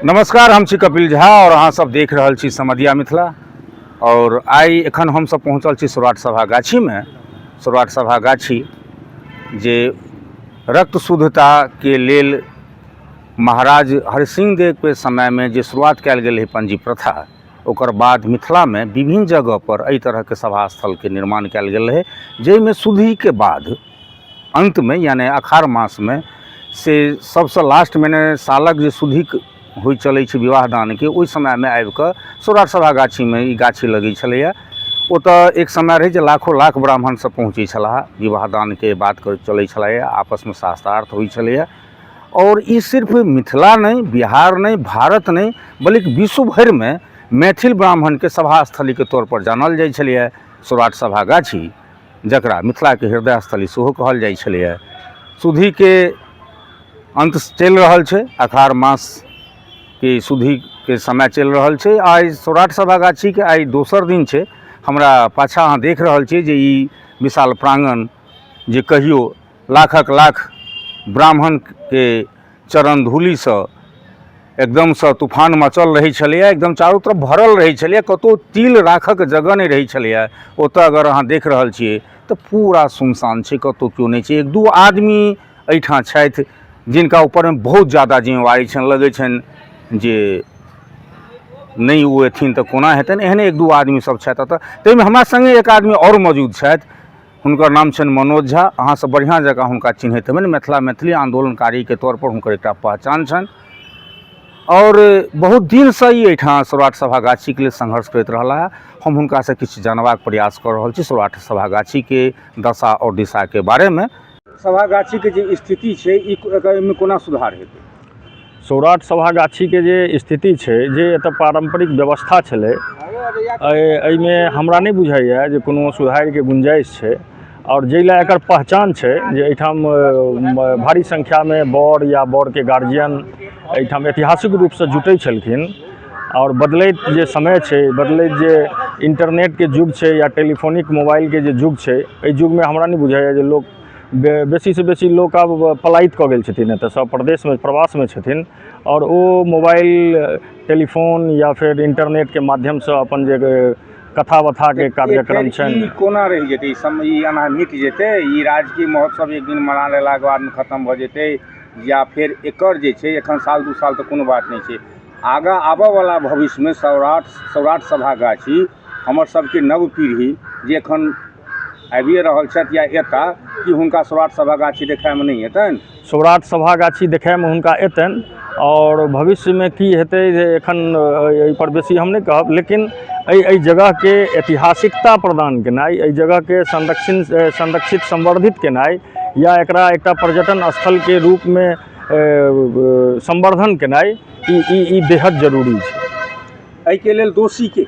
नमस्कार हम छी कपिल झा और अहाँ सब देख रहल छी समदिया मिथिला और आइ एखन हम सब पहुँचल छी सौराठ सभा गाछी में सौराठ सभा गाछी जे रक्त शुद्धता के लेल महाराज हरिसिंह देव के समय में जे शुरुआत कयल गेल है पंजी प्रथा ओकर बाद मिथिला में विभिन्न जगह पर एहि तरह के सभा स्थल के निर्माण कयल गेल है जाहिमे शुद्धि के बाद अन्तमे यानि अखाढ़ मासमे से सबसँ लास्ट मने सालक जे शुद्धिक होइ चलै छै विवाह दानके ओहि समयमे आबिकऽ सौराठ सभा गाछीमे ई गाछी लगै छलैया ओतऽ एक समय रहै जे लाखो लाख ब्राह्मण सब पहुँचै छलाह विवाह दानके बात करै चलै छलैया आपसमे शास्त्रार्थ होइ छलैया आओर ई सिर्फ मिथिला नहि बिहार नहि भारत नहि बल्कि विश्व भरिमे मैथिल ब्राह्मणके सभा स्थलीके तौर पर जानल जाइ छलैया सौराठ सभा गाछी जकरा मिथिलाके हृदय स्थली सेहो कहल जाइ छलैए सुधीके अन्त चलि रहल छै अखार मासके सुधीके समय चलि रहल छै आइ सौराठ सभागाछीके आइ दोसर दिन छै हमरा पाछा अहाँ देख रहल छी जे ई विशाल प्राङ्गण जे कहियो लाखक लाख ब्राह्मणके चरण धूलिसँ एकदमसँ तूफान मचल रहै छलैए एकदम चारू तरफ भरल रहै छलैए कतहु तिल राखक जगह नहि रहै छलैए ओतऽ अगर अहाँ देख रहल छियै तऽ पूरा सुनसान छै कतहु केओ नहि छै एक दू आदमी एहिठाम छथि जिनका ऊपरमे बहुत जादा जिम्मेवारी छनि लगै छनि जे नहि ओ एथिन तऽ कोना हेतनि एहने एक दू आदमी सब छथि एतऽ ताहिमे हमरा सङ्गे एक आदमी आओर मौजूद छथि हुनकर नाम छनि मनोज झा अहाँ सब बढ़िआँ जकाँ हुनका चिन्हैत हेबनि मिथिला मैथिली आन्दोलनकारीके तौरपर हुनकर एकटा पहचान छनि आओर बहुत दिनसँ ई एहिठाम सौराठ सभा गाछीके लेल संघर्ष करैत रहला है हम हुनकासँ किछु जानबाक प्रयास कऽ रहल छी सौराठ सभा गाछीके दशा आओर दिशाके बारेमे सभा गाछीके जे स्थिति छै ई एकर एहिमे कोना सुधार हेतै सौराठ सभागाछीके जे स्थिति छै जे एतऽ पारम्परिक व्यवस्था छलै एहि एहिमे हमरा नहि बुझाइए जे कोनो सुधारके गुंजाइश छै आओर जाहि लए एकर पहचान छै जे एहिठाम भारी संख्यामे बर या बरके गार्जियन एहिठाम ऐतिहासिक रूपसँ जुटै छलखिन आओर बदलैत जे समय छै बदलैत जे इन्टरनेटके युग छै या टेलीफोनिक मोबाइलके जे युग छै एहि युगमे हमरा नहि बुझाइए जे लोक बे बेसी सँ बेसी लोक आब पलायित कऽ गेल छथिन एतऽ सँ प्रदेशमे प्रवासमे छथिन आओर ओ मोबाइल टेलीफोन या फेर इन्टरनेटके माध्यमसँ अपन जे कथा बथाके कार्यक्रम छनि ई कोना रहि जेतै ई सम ई एना मिट जेतै ई राजकीय महोत्सव एक दिन मना लेलाके बादमे खतम भऽ जेतै या फेर एकर जे छै एखन साल दू साल तऽ कोनो बात नहि छै आगा आबऽवला भविष्यमे सौराठ सौराठ सभागाछी हमर सबके नव पीढ़ी जे एखन आबिये रहल छथि या एता कि हुनका सौराठ सभा गाछी देखायमे नहि हेतनि सौराठ सभा गाछी देखायमे हुनका एतनि आओर भविष्यमे की हेतै जे एखन एहिपर बेसी हम नहि कहब लेकिन एहि एहि जगहके ऐतिहासिकता प्रदान केनाइ एहि जगहके संरक्षण संरक्षित संवर्धित केनाइ या एकरा एकटा पर्यटन स्थलके रूपमे संवर्धन केनाइ ई ई ई बेहद जरूरी छै एहिके लेल दोषी के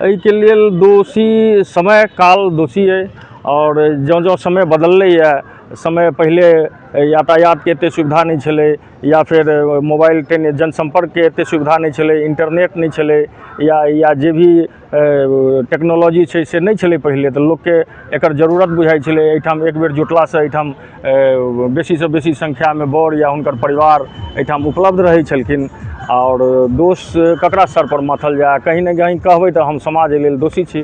एहिके लेल दोषी समय काल दोषी अइ आओर जँ जँ समय बदललैए समय पहिले यातायातके एतेक सुविधा नहि छलै या फेर मोबाइल टेली जनसम्पर्कके एतेक सुविधा नहि छलै इन्टरनेट नहि छलै या या जे भी टेक्नोलॉजी छै से नहि छलै पहिले तऽ लोकके एकर जरूरत बुझाइ छलै एहिठाम एकबेर जुटलासँ एहिठाम बेसीसँ बेसी संख्यामे बर या हुनकर परिवार एहिठाम उपलब्ध रहै छलखिन आओर दोष ककरा सरपर माथल जाय कहीँ ने कहीँ कहबै तऽ हम समाज एहि लेल दोषी छी